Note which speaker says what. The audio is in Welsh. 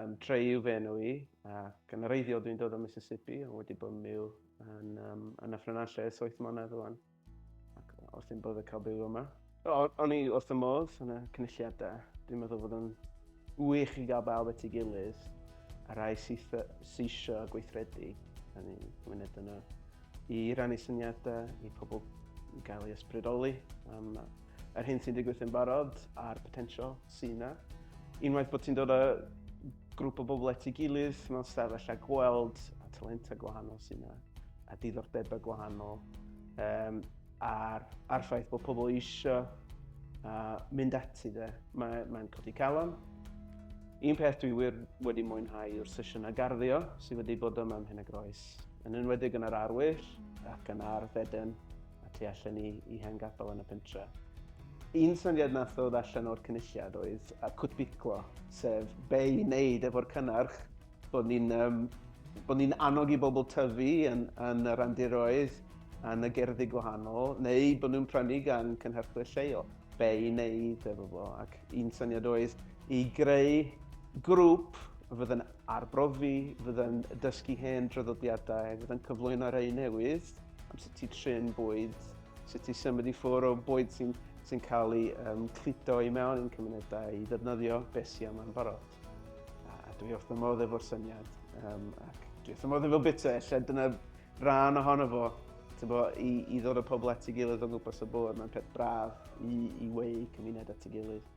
Speaker 1: Um, Trey yw fe enw i, ac yn reiddiol dwi'n dod o Mississippi, ond wedi bod yn byw yn, um, yn y ffrynallau ers 8 mlynedd rwan, ac wrth i'n bod y cael byw yma. O'n i wrth y modd yn y cynulliadau. Dwi'n meddwl bod yn wych i gael bawb at ei gilydd a rai sydd eisiau e gweithredu yn ein myned yno i rannu syniadau i pobl i gael ei ysbrydoli am Yr hyn sy'n digwydd yn barod a'r potensial sy'n yna. Unwaith bod ti'n dod â grŵp o bobl at ei gilydd mewn stafell a gweld a talentau gwahanol sy'n yna a diddordebau gwahanol um, a'r, ar ffaith bod pobl eisiau uh, mynd ati dde. Mae'n mae codi calon. Un peth dwi wir wedi mwynhau yw'r sesiynau garddio sydd wedi bod yma am hyn a groes, yn enwedig yn yr arwyll ac yn ar fedyn a tu allan i, i hen gapel yn y pentre. Un syniad nath ddod allan o'r cynulliad oedd a cwtbiclo, sef be i wneud efo'r cynnarch, bod ni'n um, bod ni'n annog i bobl tyfu yn, yn y randiroedd, yn y gerddi gwahanol, neu bod nhw'n prynu gan cynhyrchwyr lleol, be i wneud efo fo. Ac un syniad oedd i greu grŵp fydd yn Arbrofi, fydd yn dysgu hen draddodiadau, fydd yn cyflwyno rhai newydd am sut i trin bwyd, sut i symud i ffwrdd o bwyd sy'n sy cael ei um, cludo i mewn i'n cymunedau i ddefnyddio beth sy'n yma'n barod. A, a dwi wrth y modd efo'r syniad, um, ac dwi wrth y modd efo bita, lle dyna rhan ohono fo, bo, i, i ddod o pobl at ei gilydd o'n gwmpas y bwrdd, mae'n peth braf i, i wei cymuned at ei gilydd.